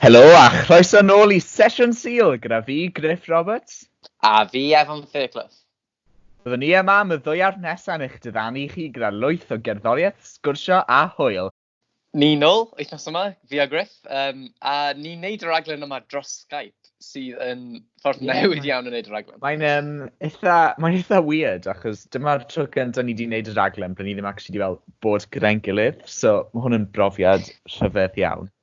Helo a chroeso nôl i Sesiwn Sul gyda fi, Griff Roberts. A fi, Evan Fairclough. Byddwn ni yma am y ddwyawr nesaf yn eich diddanu chi gyda lwyth o gerddoriaeth, sgwrsio a hwyl. Ni nôl wythnos yma, fi a Griff, um, a ni'n neud y raglen yma dros Skype, sydd yn ffordd yeah, newydd iawn yn neud y raglen. Mae'n um, eitha, mae'n eitha weird, achos dyma'r tro gyntaf ni wedi neud y raglen, byddwn ni ddim actually wedi fel bod gyda'n gilydd, so mae hwn yn brofiad rhyfedd iawn.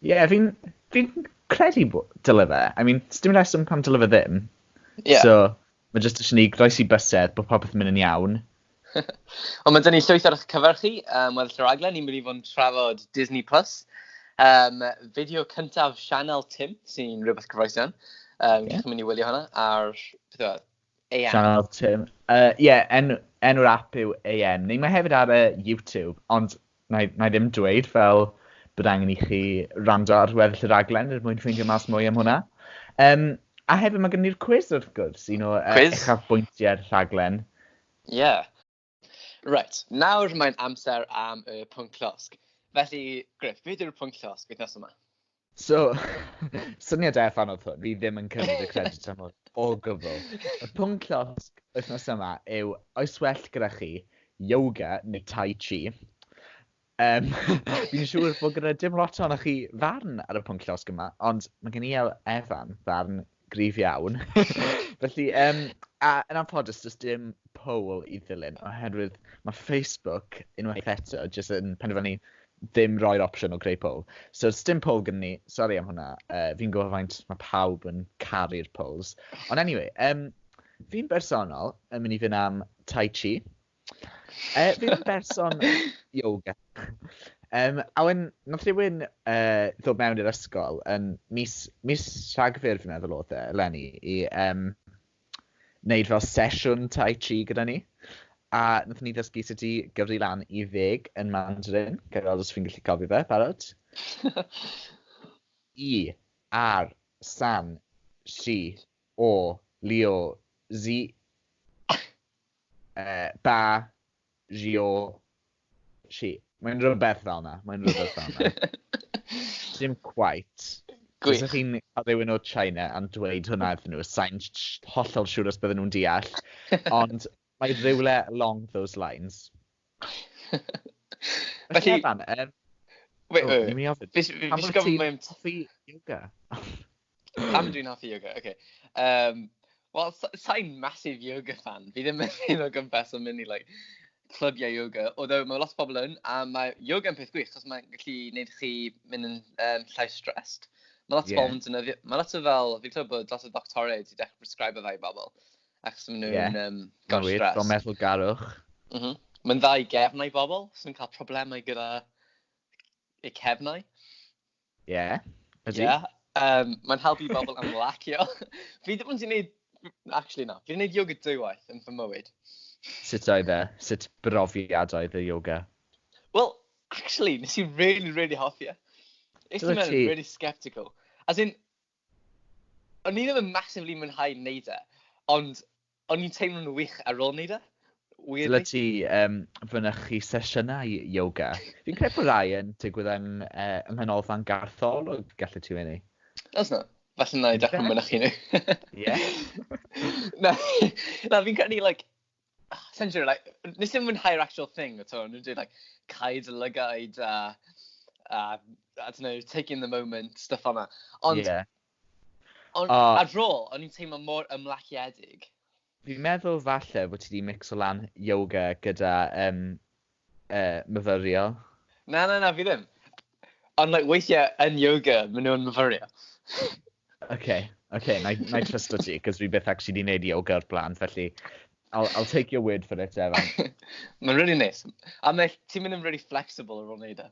Ie, yeah, fi'n fi credu bod dyle fe. I mean, dim rheswm pam dyle fe ddim. Yeah. So, mae jyst eisiau ni groes i bysedd bod popeth yn mynd yn iawn. Ond mae dyn ni llwyth ar eich cyfer chi, um, weddill yr aglen, ni'n mynd i fod yn trafod Disney Plus, um, fideo cyntaf Sianel Tim, sy'n rhywbeth cyfoesion. Um, yeah. Chi'n mynd i wylio hwnna ar AM. Sianel Tim. Ie, uh, yeah, en, enw'r app yw AM. Neu mae hefyd ar y YouTube, ond na i, na i ddim dweud fel bod angen i chi rando ar weddill y raglen er mwyn ffeindio mas mwy am hwnna. Um, a hefyd mae gen i'r quiz wrth gwrs, un o uh, uchafbwyntiau'r rhaglen. Ie. Yeah. Reit, nawr mae'n amser am y pwnc llosg. Felly, Griff, beth yw'r pwnc llosg wythnos yma? So, syniad e fan oedd hwn, fi ddim yn cymryd y credit am hwn o gyfl. Y pwnc llosg wythnos yma yw, oes well gyda chi yoga neu tai chi? Um, fi'n siŵr bod gyda dim lot o'n chi farn ar y pwnc llosg yma, ond mae gen i e- Evan farn grif iawn. Felly, um, a yn anffodus, does dim poll i ddilyn, oherwydd mae Facebook, unwaith eto, jyst yn penderfynu ddim roi'r opsiwn o greu poll. So, does dim poll gen ni, sori am hwnna, uh, fi'n gwybod faint mae pawb yn caru'r polls. Ond anyway, um, fi'n bersonol yn mynd i fynd am Tai Chi, Uh, fi ddim berson yoga. Um, a wen, nath rhywun uh, ddod mewn i'r ysgol yn mis, mis rhagfyr fi'n meddwl oedd e, Lenny, i um, wneud fel sesiwn tai chi gyda ni. A nath ni ddysgu sut i gyfri lan i ddeg yn Mandarin, gyda os fi'n gallu cofio fe, barod. I, ar, san, si, o, lio, zi, Ba, Rio, Si. Mae'n rhywbeth fel yna, mae'n rhywbeth fel yna. Dim quite. Gwych. Os chi'n rhywun o China am dweud hwnna iddyn nhw, sa'n hollol siŵr os bydden nhw'n deall. Ond mae rhywle along those lines. Felly... Evan, um, Wait, wait, wait. Fi sy'n gofyn... Pam ti'n hoffi yoga? Pam dwi'n hoffi yoga? Okay. Um, Wel, sa'n massive yoga fan. Fi ddim yn un o gympes yn mynd i like, clybiau yoga. Oeddo mae lot o bobl yn, a mae yoga yn peth gwych, chos mae'n gallu gwneud chi mynd yn um, llai stressed. Mae lot yeah. o bobl yn dynyddio, mae lot o fel, fi'n clywed bod lot o doctorau wedi dechrau prescribe fe i bobl, achos maen nhw'n yeah. um, gan stress. Mae'n wir, meddwl garwch. Mm -hmm. Mae'n dda i gefnau bobl sy'n cael problemau gyda y cefnau. Ie, yeah, ydy. Yeah. Um, mae'n helpu i bobl ymlacio. fi ddim yn gwneud... Actually, na. Fi'n gwneud yoga dwywaith yn fy mywyd. Sut oedd e? Sut brofiad oedd y yoga? Wel, actually, nes i really, really hoffi e. Is ti'n meddwl, really sceptical. As in, o'n i ddim yn massively mwynhau neud e, ond o'n i'n teimlo'n wych ar ôl neud e, weirdly. Dyle ti um, fynychu sesiynau yoga. Fi'n credu bod rai yn digwydd yng, uh, yng Nghanolfan Gartholwg, gallu ti fyny. Os na, falle na i dechrau mynychu nhw. Ie. na, na fi'n credu, like, sa i'n siŵr, like, wnes i'm mwynhau'r actual thing at all. O'n nhw'n dweud like cau dy lygaid a a I don't know, take in the moment, stuff fel 'na. Ond... Ie. Ond ar dro, o'n i'n teimlo mor ymlaciedig. Fi'n meddwl falle bod ti wedi micso lan yoga gyda um, Yy, myfyrio. Na, na, na, fi ddim. Ond, like, weithiau yn yoga, maen nhw'n myfyrio. OK, OK, na i, na i trust o ti, cos fi beth actually di wneud yoga o'r blaen, felly I'll, I'll take your word for it, Evan. Mae'n really nice. A mae, ti'n mynd yn really flexible ar ôl wneud e.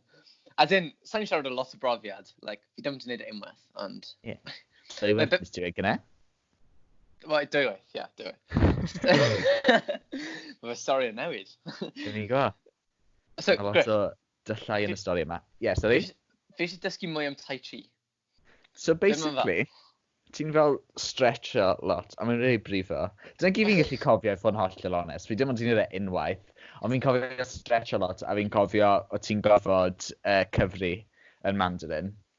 As in, sa'n siarad o lot o brofiad, like, fi ddim wedi wneud e unwaith, ond... Yeah. So i wedi dweud gyda? Wel, dwywaith, ie, dwywaith. Mae fy stori yn newid. Dyn ni go. So, Mae lot o dyllau yn y stori yma. Ie, yeah, sori. Fi eisiau dysgu mwy am Tai Chi. So basically, ti'n fel stretcho lot, a mae'n rhaid brifo. Dyna gyd fi'n gallu cofio i fod yn hollol onest. Fi dim ond ti'n ei unwaith, ond fi'n cofio stretcho lot, a fi'n cofio o ti'n gofod uh, cyfri yn Mandarin.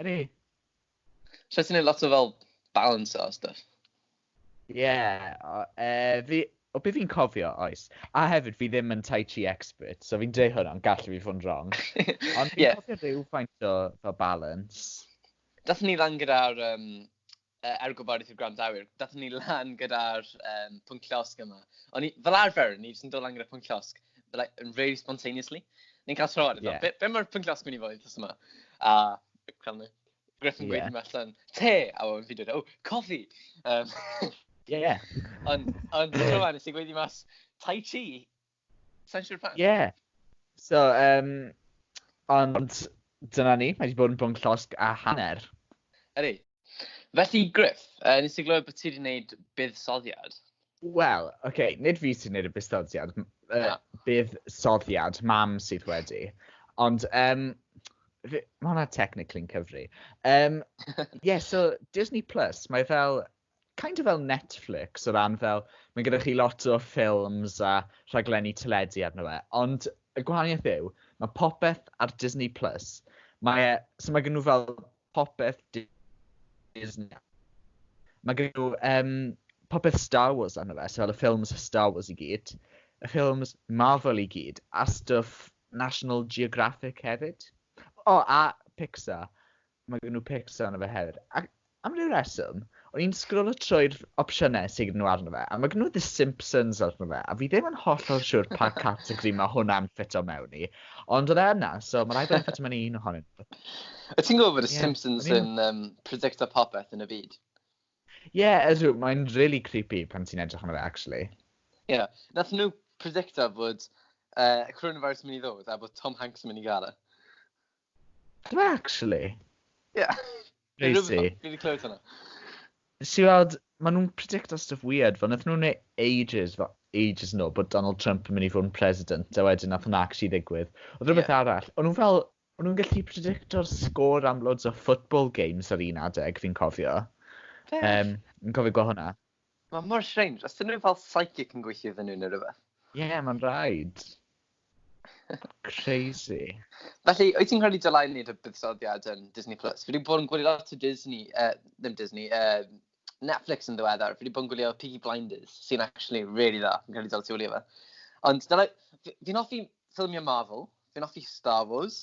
Ydy. So ti'n neud lot o fel balance o stuff? Ie, yeah, uh, fi, o beth fi'n cofio, oes. A hefyd, fi ddim yn Tai Chi expert, so fi'n dweud hwnna, ond gallu fi fod yn wrong. Ond fi'n yeah. cofio rhyw faint o fel balance. Dath ni lan gyda'r um, uh, er gwybodaeth i'r gwrandawyr, dathon ni lan gyda'r um, pwnc llosg yma. O'n i, fel arfer, ni jyst yn dod lan gyda'r pwnc llosg, like, really spontaneously. Ni'n cael tro ar y yeah. be, be mae'r pwnc llosg mynd i fod i yma? A, cael ni, Griff yn gweud yeah. allan, te, a o'n fi dweud, o, oh, coffi! Um, yeah. Ond, ond, tro nes i gweud i mas, tai chi, Sa'n siŵr pa... Ie. So, um, ond dyna ni, mae wedi bod yn bwnc llosg a hanner. Ydy. Felly, Griff, uh, nes i glywed bod ti wedi gwneud buddsoddiad. Wel, oce, okay, nid fi sy'n gwneud y buddsoddiad, uh, buddsoddiad, mam sydd wedi. Ond, um, mae hwnna technically'n cyfri. Um, yeah, so Disney Plus, mae fel kind of fel Netflix o ran fel, mae gyda chi lot o ffilms a rhaglenni teledu arno fe, ond y gwahaniaeth yw, mae popeth ar Disney Plus, mae e, so mae gen nhw fel popeth Disney, mae gen nhw um, popeth Star Wars arno fe, so fel y ffilms Star Wars i gyd, y ffilms Marvel i gyd, a stuff National Geographic hefyd. O, oh, a Pixar. Mae gen nhw pics arno fe hefyd. Ac am ryw reswm, o'n i'n sgrolo trwy'r opsiynau sydd gen nhw arno fe, a mae gen nhw The Simpsons arno fe, a fi ddim yn hollol siwr pa categori mae hwnna'n ffito mewn i. Ond oedd e yna, so mae rhaid bod e'n ffito mewn i un ohonyn nhw. Y ti'n gwybod bod y Simpsons yn um, predicta popeth yn y byd? Ie, yeah, ydw, mae'n really creepy pan ti'n edrych arno fe, actually. Ie, yeah. nath nhw predicta bod uh, coronavirus yn mynd i ddod a bod Tom Hanks yn mynd i gael e. Dw i actually? Ie. Crazy. Fi di clywed hwnna. Nes i weld, ma nhw'n predicto stuff weird, fel nath nhw'n neu ages, fel ages yn ôl, bod Donald Trump yn mynd i fod yn president, a wedyn nath hwnna actually ddigwydd. Oedd rhywbeth yeah. arall, o'n nhw'n fel, o'n nhw'n gallu predicto'r sgôr am loads o football games ar un adeg, fi'n cofio. Um, yn cofio gweld hwnna. Mae mor strange, os dyn nhw fel psychic yn gweithio iddyn nhw neu rhywbeth. Ie, yeah, mae'n rhaid. Crazy. Felly, wyt ti'n credu dylai wneud y buddsoddiad yn Disney Plus? Fi wedi bod yn gwylio lot o Disney, uh, ddim Disney, uh, Netflix yn ddiweddar. Fi wedi bod yn gwylio Piggy Blinders, sy'n actually really dda. Fi'n credu dylai ti wylio fe. Ond dylai, fi'n hoffi ffilmio Marvel, fi'n hoffi Star Wars,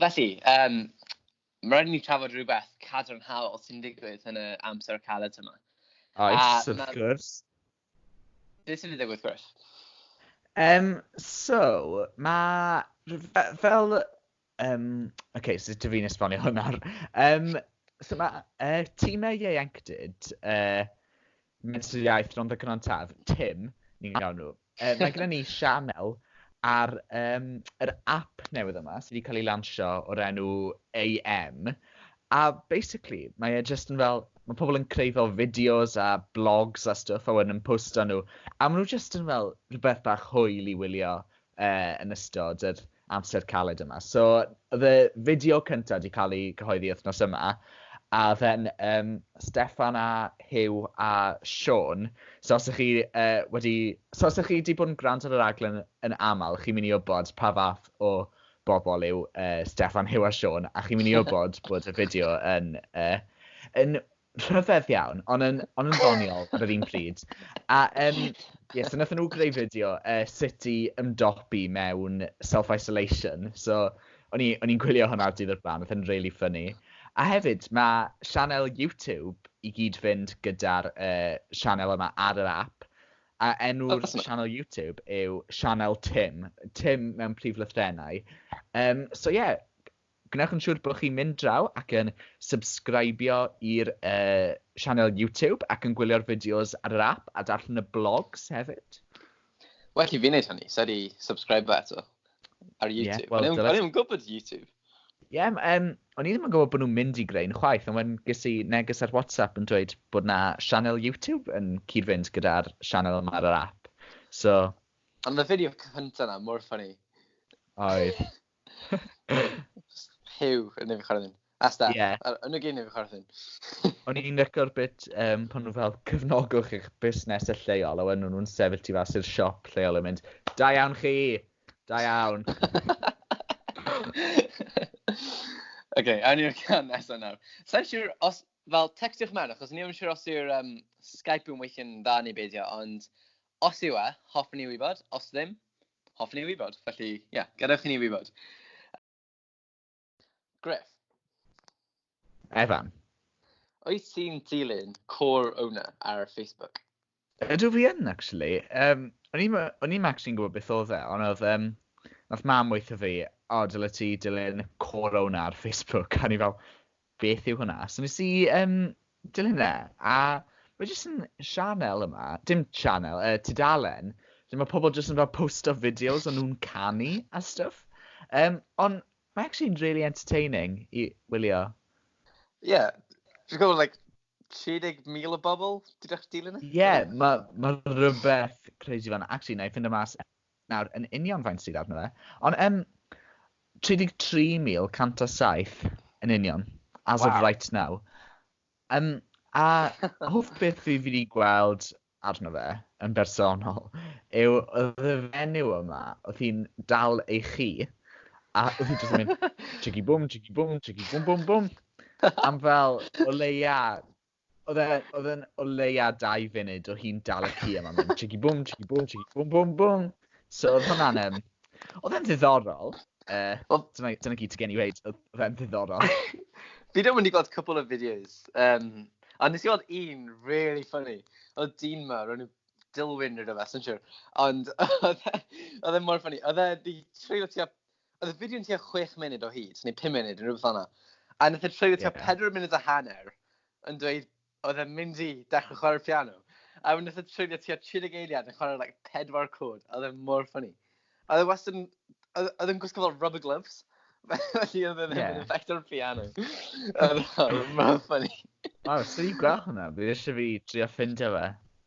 Felly, um, mae rhaid i ni trafod rhywbeth cadarnhaol sy'n digwydd yn y amser caled yma. Oes, wrth gwrs. Beth sy'n digwydd, Chris? Um, so, mae... Fel... Um, OK, so dwi fi'n esbonio hwnna. Um, so mae uh, tîmau ieuenctid uh, Medr Iaith Rhondda Cynon Taf, Tim, ni'n gael nhw. Uh, mae gyda ni sianel ar um, yr app newydd yma sydd wedi cael ei lansio o'r enw AM. A basically, mae e just yn fel, mae pobl yn creu fel fideos a blogs a stuff a wedyn yn postio nhw. A maen nhw just yn fel rhywbeth bach hwyl i wylio. uh, yn ystod yr amser caled yma. So, oedd y fideo cyntaf wedi cael ei gyhoeddi wythnos yma, a oedd e'n um, Stefan a Hugh a Sean. So, os ych chi uh, wedi... So, os ych chi wedi bod yn gwrando ar yr aglen yn aml, chi'n mynd i wybod pa fath o bobl yw uh, Stefan, Hugh a Sean, a chi'n mynd i wybod bod y fideo yn, uh, yn Rhyfedd iawn, ond yn, ond yn ddoniol ar yr un pryd. A um, ie, so nath nhw greu fideo uh, sut i ymdopi mewn self-isolation. So, o'n i'n gwylio hwnna dydd o'r blaen, oedd yn really funny. A hefyd, mae sianel YouTube i gyd fynd gyda'r uh, sianel yma ar yr app. A enw'r oh, sianel YouTube yw Sianel Tim. Tim mewn prif lythrenau. Um, so ie, yeah, Gwnewch yn siŵr bod chi'n mynd draw ac yn subscribio i'r uh, sianel YouTube ac yn gwylio'r fideos ar yr app a darllen y blogs hefyd. Well i fi wneud hynny, sa'i di subscribe eto ar YouTube. Yeah, well, o'n i'n gwybod YouTube. Ie, yeah, um, o'n i ddim yn gwybod bod nhw'n mynd i greu yn chwaith, ond wedyn ges i neges ar WhatsApp yn dweud bod na sianel YouTube yn cyd-fynd gyda'r sianel yma ar yr app. So... Ond y fideo cyntaf na, mor ffynnu. Oedd. Hugh yn nefyn chwarae ddim. Asta, yeah. yn y gyn nefyn chwarae ddim. O'n i'n record bit um, pan nhw fel cyfnogwch eich busnes y lleol, a wedyn nhw'n sefyll ti fas i'r siop lleol yn mynd, da iawn chi, da iawn. Ok, awn i'r can nesaf nawr. Sa'n siŵr os, fel, textiwch mewn, achos ni ddim siŵr os yw'r um, Skype yn weithio'n dda neu beidio, ond os yw e, hoffwn i wybod, os ddim, Hoffwn ni wybod, felly, ie, yeah, gadewch i ni wybod. Griff. Evan. Oes ti'n dilyn Core Owner ar Facebook? Ydw fi yn, actually. Um, o'n i'n max i'n gwybod beth oedd e, ond oedd... Um, nath mam weithio fi, o, dyle ti dilyn Core Owner ar Facebook. A ni fel, beth yw hwnna? So nes i um, dilyn e, a mae jyst yn sianel yma, dim sianel, uh, tudalen, lle mae pobl jyst yn fel posto fideos o'n nhw'n canu a stuff. Um, ond mae actually'n really entertaining i wylio. Ie, yeah. dwi'n gwybod, like, 30,000 o bobl, dwi'n eich dilyn e? Ie, yeah, mae ma rhywbeth crazy fan. Actually, na i ffind y mas nawr yn union faint sydd arno fe, ond yym 33,107 yn union, as of right now. Um, a hoff beth fi wedi gweld arno fe yn bersonol yw oedd y fenyw yma, oedd hi'n dal ei chi, a oedd hi'n just mynd chigi bwm, chigi bwm, chigi bwm bwm bwm, am fel o leia Oedd e, oedd e'n o leia dau funud o hi'n dal y ci yma, mae'n chigi bwm, chigi bwm, chigi bwm, bwm, bwm. So oedd hwnna'n, um, oedd e'n ddiddorol. Uh, well, dyna, dyna gyd ti gen i weid, oedd e'n ddiddorol. Fi ddim wedi gweld cwpl o fideos, um, a nes i weld un really funny. Oedd dyn ma, ro'n nhw Dilwyn neu rhywbeth, sy'n siwr. Ond e, oedd e mor funny. Oedd e di treulio tua Oedd y fideo yn tua 6 munud o hyd, neu 5 munud, yn rhywbeth o'na. A nath e treulio tua 4 munud a hanner yn dweud oedd e'n mynd i dechrau chwarae'r piano. A wedyn nath e treulio tua 30 eiliad yn chwarae like, pedwar cwrdd. Oedd e'n mor ffynnu. A oedd e wastad yn... Oedd e'n gwisgo fel rubber gloves. Felly oedd e'n yeah. effect o'r piano. Oedd e'n mor ffynnu. Wel, sy'n i gweld hwnna. Fi eisiau fi drio ffindio fe.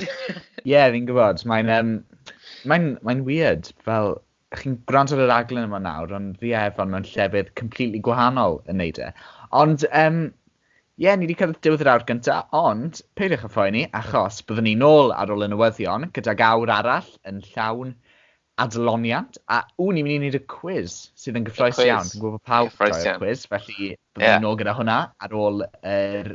Ie, yeah, fi'n gwybod. Mae'n um, mae'n mae'n weird. Fel, chi'n gwrando ar y raglen yma nawr, ond fi ef, ond mae'n llefydd completely gwahanol yn neud e. Ond, um, ie, yeah, ni wedi cael diwedd yr awr gyntaf, ond peidiwch â phoeni, achos byddwn ni'n ôl ar ôl y newyddion gydag awr arall yn llawn adloniant, a wn ni'n mynd i wneud y quiz sydd yn gyffroes iawn. Dwi'n gwybod pawb yn y quiz, felly byddwn yeah. ni'n ôl gyda hwnna ar ôl yr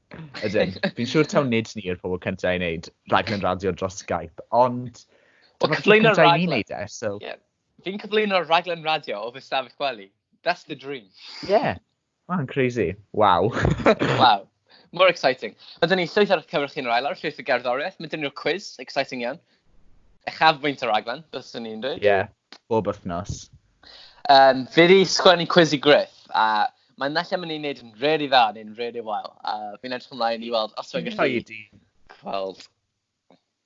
Ydyn. Fi'n siŵr taw nid ni yw'r pobl cyntaf i wneud rhaglen radio dros Skype, ond... Wel, cyflwyno'r rhaglen... Neud e, so... yeah. Fi'n cyflwyno'r rhaglen radio o fy stafell gwely. That's the dream. Yeah. Mae'n crazy. Wow. wow. More exciting. Mae dyn ni llwyth ar cyfer chi'n rhael ar llwyth o gerddoriaeth. Mae dyn ni'r quiz, exciting iawn. Echaf fwynt o raglen, bys ni'n dweud. Ie, yeah. bob wythnos. Um, fi wedi sgwennu cwiz i Griff, a mae'n nallan mynd i'n neud yn really dda neu'n really wael. A fi'n edrych ymlaen i weld os mae'n gallu gweld.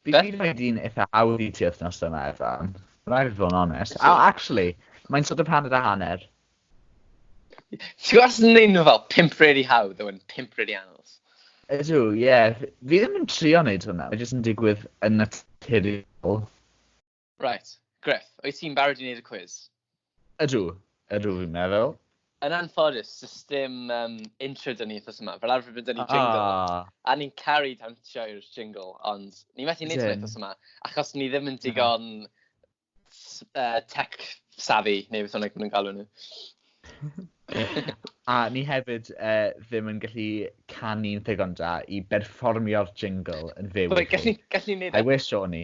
Fi wedi gwneud un eitha hawdd i ti wythnos yma, Evan. Rhaid fod yn onest. Oh, actually, mae'n sort of hanner a hanner. Ti'n gwybod os yn neud nhw fel pimp really hawdd, yw'n pimp really anodd. Ydw, ie. Yeah. Fi ddim yn trio wneud hwnna. Mae jyst yn digwydd yn naturiol. Right, Griff, wyt ti'n barod i wneud y cwiz? Ydw, ydw fi'n meddwl. Yn anffodus, does dim um, intro dyn ni wrth yma. Fel arfer byddwn ni'n jingle. Ah. A ni'n caru dawnsio i'r jingle, ond ni'n methu wneud hynny wrth yma. Achos ni ddim yn digon uh, tech savvy, neu beth hwnna nhw'n galw nhw. a ni hefyd uh, ddim yn gallu canu'n ddigon da i berfformio'r jingle yn fyw. Gallu, gallu neud e. I wish o'n i.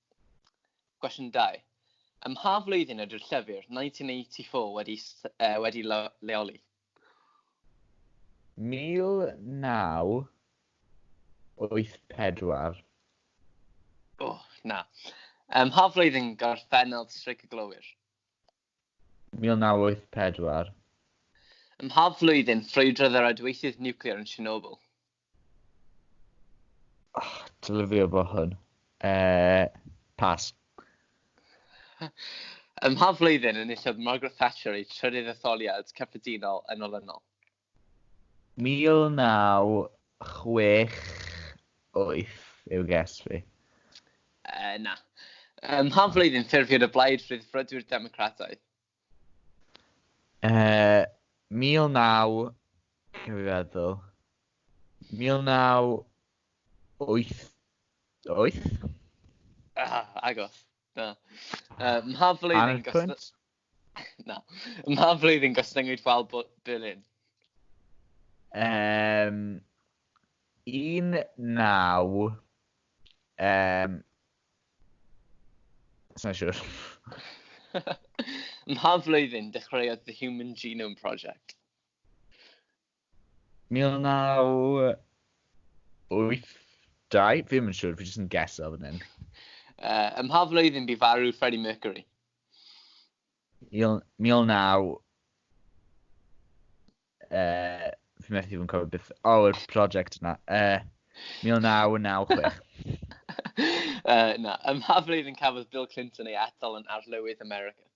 Cwestiwn 2. Ym mha flwyddyn ydy'r llyfr 1984 wedi leoli? 1984. O, na. Ym mha flwyddyn gorffennodd Streic y Glowyr? 1984. Ym mha flwyddyn ffrwydrodd yr adweithydd niwclear yn Chernobyl? Oh, dylifio fo hwn. Uh, pas. Ym mha flwyddyn enillodd Margaret Thatcher ei trydydd etholiad cyffredinol yn olynol? 1968 yw guess fi. Yy, na. Ym mha flwyddyn ffurfiodd y Blaid Rhyddfrydwyr Democrataidd? Yy, 19... Rwy'n fi feddwl. 1988? Ah, agos. Na. Uh, mha flwyddyn gostyngodd... Na. Mha flwyddyn gostyngodd Val Berlin? Um, 19... Um, Sa'n siwr. Mha flwyddyn dechreuodd The Human Genome Project? 1982? Fi ddim yn siŵr, fi jyst yn geso fan hyn. Uh, ym mha flwyddyn bu farw Freddie Mercury? 19... Uh, fi methu fod yn cofio beth... O, oh, y prosiect yna. Uh, 1996. uh, na, ym mha flwyddyn cafodd Bill Clinton ei atal yn arlywydd America?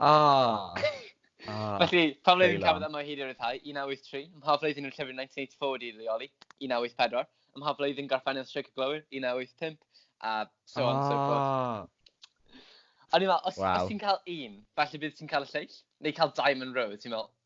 Ah! Ah, Felly, pan wnaeth yn cafod yma hyd i'r rhyddhau, 1983, ym mha flwyddyn yn llyfr 1984 wedi'i leoli, 1984, ym mha flwyddyn gorffeniodd Streic y Glowyr, 1985, a so on, so forth. Ah! O'n i'n meddwl, os, wow. os ti'n cael un, falle bydd ti'n cael y lleill, neu cael Diamond Rose, ti'n meddwl,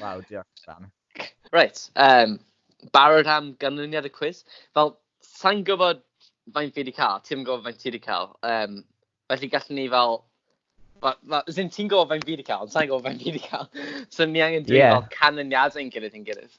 Waw, diolch, Sam. Reit, um, barod am ganlyniad y cwiz. Fel, sa'n gwybod faint fi wedi cael, ti'n gwybod faint ti wedi cael. Um, felly gallwn ni fel... Wel, ma, ti'n gwybod faint fi wedi cael, ond sa'n gwybod faint fi wedi cael. so ni angen dweud yeah. fel canlyniadau yn gilydd yn gilydd.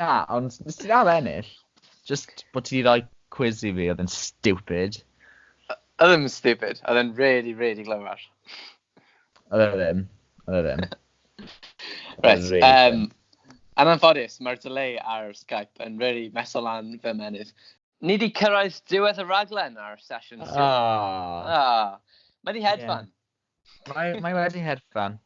Na, ond nes ti ddal ennill? Just bod ti wedi rhoi quiz i fi oedd yn stupid. Oedd yn stupid, oedd yn really, really glyfar. Oedd e ddim, oedd e ddim. Reit, Really um, yn anffodus, mae'r delay ar Skype yn really meso lan fy menydd. Ni di cyrraedd diwedd y raglen ar sesiwn 7. Ah, Ah, mae di hedfan. Mae, mae wedi hedfan.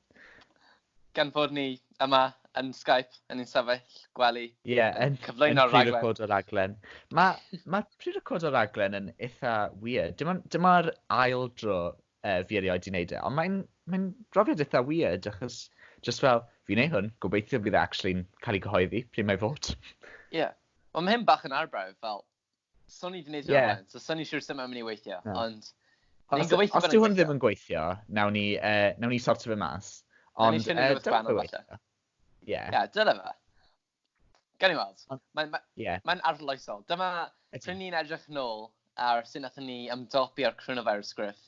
Gan fod ni yma yn Skype, yn ein sefyll gwely, Ie, yeah, yn, yn cyflwyno'r rhaglen. Yn pre-recordo'r raglen. Mae ma pre-recordo'r raglen yn eitha weird. Dyma'r dyma ail dro uh, fi erioed di wneud e, ond mae'n mae brofiad eitha weird, achos just fel, fi'n ei hwn, gobeithio bydd e actually'n cael ei gyhoeddi, pryd mae fod. Ie. Yeah. Ond mae hyn bach yn arbrawf, fel, So ni wedi gwneud yeah. hwnna, so so ni'n siŵr sut mae'n mynd i weithio, no. ond... Os, os dyw hwn ddim yn gweithio, nawn ni, uh, nawn ni sortio fe mas. Ond, nawn ni uh, dyna fe weithio. Ie. Ie, dyna fe. Gan i weld. Mae'n ma, yeah. ma arloesol. Dyma, pryn ni'n edrych nôl ar sy'n nath ni ymdopi ar coronavirus griff.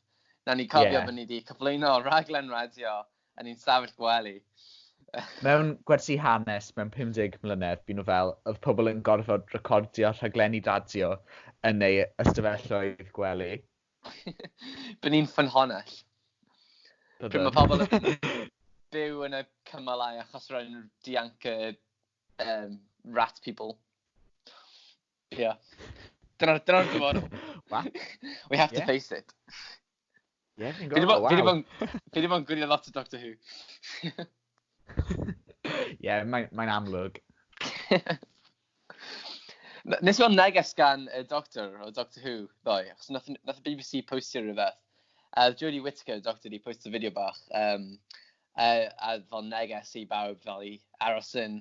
Nawn ni cofio yeah. bod ni wedi cyflwyno rhaglen radio Yn un stafell gwely. Mewn gwersi hanes mewn 50 mlynedd, bu nhw fel, oedd pobl yn gorfod recordio rhaglenni radio yn eu ystafelloedd gwely. Bu ni'n ffynhonnell. Pryd mae pobl yn byw yn y cymalau achos roedd nhw'n dianc y um, rat people. Ie. Yeah. Dyna'r dyna dyfodol. We have to yeah. face it. Ie, fi'n gweld, waw. Fi ddim yn gwylio lot o Doctor Who. Ie, mae'n amlwg. Nes i weld neges gan y Doctor o Doctor Who ddoe, achos nath, nath y BBC postio rhywbeth. A uh, Jodie Whittaker, y Doctor, di postio fideo bach. Um, a, a fel neges i bawb fel i aros yn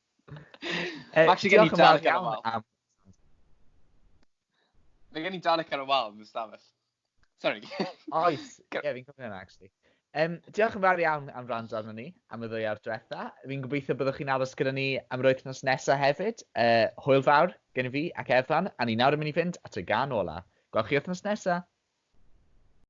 Mae actually gen i darlec ar y wal. Mae gen i darlec ar y wal yn y stafell. Sorry. Oes, ie, fi'n cofio hynna, actually. Um, diolch yn fawr iawn am rand arno ni am y ddwy ar diwetha. Fi'n gobeithio byddwch chi'n aros gyda ni am yr wythnos nesaf hefyd. Uh, hwyl fawr gen i fi ac Efan, a ni nawr yn mynd i fynd at y gan ola. Gwelch chi wythnos nesaf.